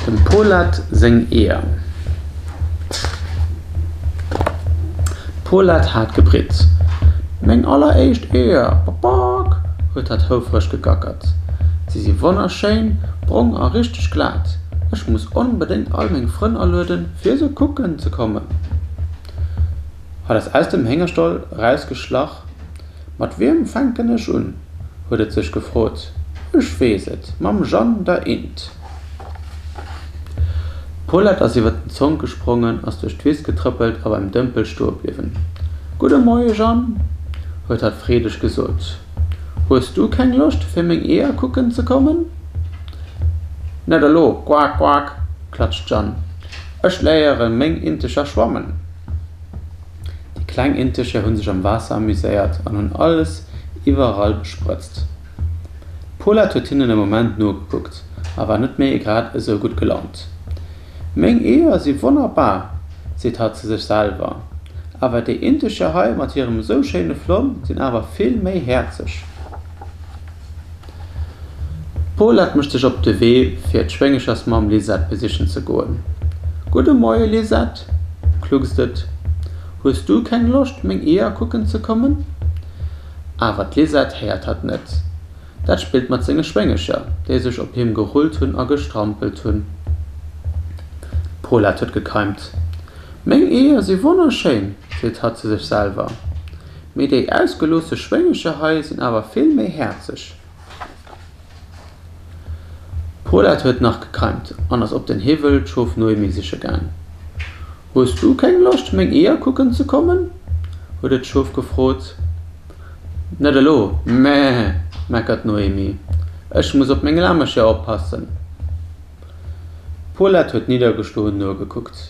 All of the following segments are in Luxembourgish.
Dem Polat seng Eeër. Polat hat gebritzt. Meng alleréischt Eeër, Bock-bock! huet hat houfreg gegackert. Si si wonnerschéin, brong a richteg glat. Ech muss onbedéngt all meng Frënn alueden, fir se kucken ze kommen. Hat es aus dem Héngerstall erausgeschlach. Mat wiem fänken ech un? huet et sech gefrot. Ech weess et, mam Jeanne, der Int. D'Paulette ass iwwer den Zonk gesprongen, ass duerch d'Wiss getrëppelt a beim Dëmpel stoe bliwwen. Gudde Moie, Jeanne, huet hatt freedeg gesot. Hues du keng Loscht, fir meng Eeër kucken ze kommen? Net elo, quak, quak, klatscht d'Jeanne. Ech léiere meng Integer schwammen. Déi kleng Integer hunn sech am Waasser amuséiert an hunn alles iwwerall besprëtzt. D'Poulette huet hinnen e Moment nogekuckt a war net méi grad esou gutt gelaunt. Meng Eeër si wonnerbar! seet hatt zu sech selwer. Awer déi Integer hei mat hirem esou schéine Flomm sinn awer vill méi häerzeg. D'Paulette mécht sech op de Wee fir d'Schwéngechersmamm Lisette besichen ze goen. Gudde Moie Lisette, kluckst et, hues du keng Loscht meng Eeër kucken ze kommen? Awer d'Lisette héiert hatt net, dat spillt mat senge Schwéngecher, déi sech op him gerullt hunn a gestrampelt hunn. D'Paulette huet gekeimt. Meng Eeër si wonnerschéin, seet hatt zu sech selwer. Mee déi ausgeloosse Schwéngecher hei sinn awer vill méi häerzeg. D'Paulette huet nach gekeimt an ass op den Hiwwel d'Schof Noémie siche gaang. Hues du keng Loscht, meng Eeër kucken ze kommen? huet et d'Schof gefrot. Net elo, Meh! meckert d'Noémie. Ech muss op meng Lamecher oppassen. D'Paulette huet niddergeschloen nogekuckt.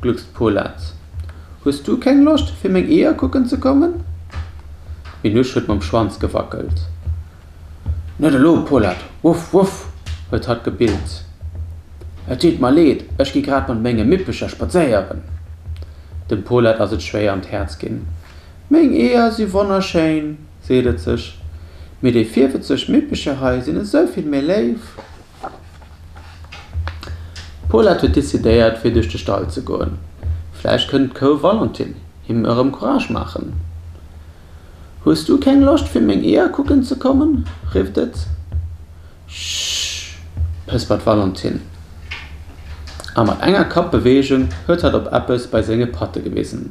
Gluckst Polaz, Hues du keng Loscht fir meng Eeër kucken ze kommen? D'Minouche huet mam Schwanz gewackelt. Net elo, Polaz, wuff, wuff, huet hatt gebillt. Et deet mer leed, ech gi grad mat menge Mippecher spadséieren. Dem Polaz ass et schwéier an d'Häerz ginn. Meng Eeër si wonnerschéin, seet et sech, mee déi virwëtzeg Mippecher hei sinn esou vill méi léif. D'Paulette huet decidéiert fir duerch de Stall ze goen, vläicht kënnt d'Kou Valentin him erëm Courage maachen. Hues du keng Loscht fir meng Eeër kucken ze kommen? rifft et. Schschschsch! pëspert d'Valentin, a mat enger Kappbeweegung huet hatt op eppes bei senge Patte gewisen.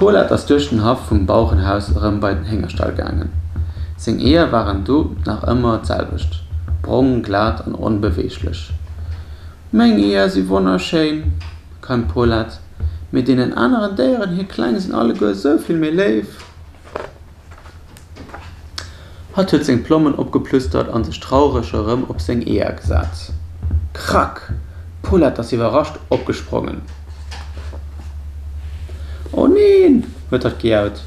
D'Paulette ass duerch den Haff vum Bauerenhaus erëm bei den Héngerstall gaangen. Seng Eeër waren do nach ëmmer d'selwecht, brong, glat an onbeweeglech. Meng Eeër si wonnerschéin, keimt d'Paulette, mee deenen aneren Déieren hir Kleng sinn alleguer esou vill méi léif. Hatt huet seng Plommen opgeplustert a sech traureg erëm op seng Eeër gesat. Krack! D'Paulette ass iwwerrascht opgesprongen. O neen! huet hatt gejaut.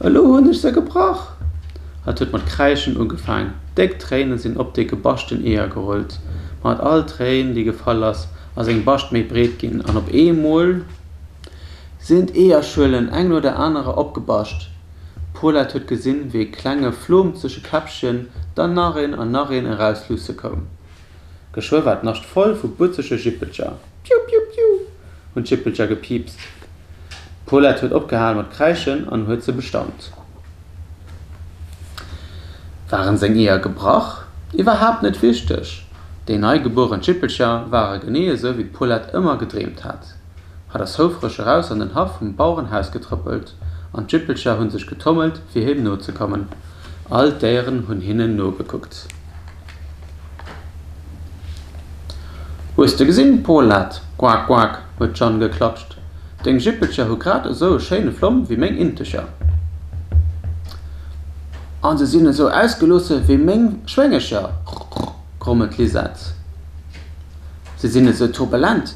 Elo hunn ech se gebrach! Hatt huet mat kräischen ugefaang. Déck Tréine sinn op déi gebaschten Eeër gerullt. Mat all Tréin, déi gefall ass, ass eng Bascht méi breet ginn an op eemol. Sinn d'Eeërschuelen eng no der anerer opgebascht. D'Paulette huet gesinn, wéi e klenge Flom zwësche Käppchen, dann nach een an nach een erausluusse koum. Geschwë war d'Nascht voll vu butzege Jippelcher. Piu, piu, piu! hunn d'Jippelcher gepiipst. D'Paulette huet opgehal mat kräischen an huet se bestaunt. Waren seng Eeër gebrach? Iwwerhaapt net wichteg! Déi neigebueren Jippelcher ware genee esou, wéi d'Paulette ëmmer gedreemt hat. hat ass houfreg eraus an den Haff vum Bauerenhaus getrëppelt, an d'Jippelcher hunn sech getommelt, fir him nozekommen. All d'Déieren hunn hinnen nogekuckt. Hues de gesinn, Polat, quak, quak, huet d'Jeanne geklatscht, deng Jippelcher hu grad esou e schéine Flomm wéi meng Integer. A se sinn esou ausgeloosse wéi meng Schwéngecher, rrrr, grummelt d'Lisette. Se sinn esou turbulent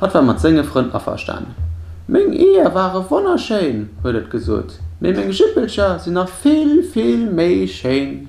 Hatt war mat senge Frënn averstan. Meng Eeër ware wonnerschéin, huet et gesot, mee meng Jippelcher sinn nach vill, vill méi schéin.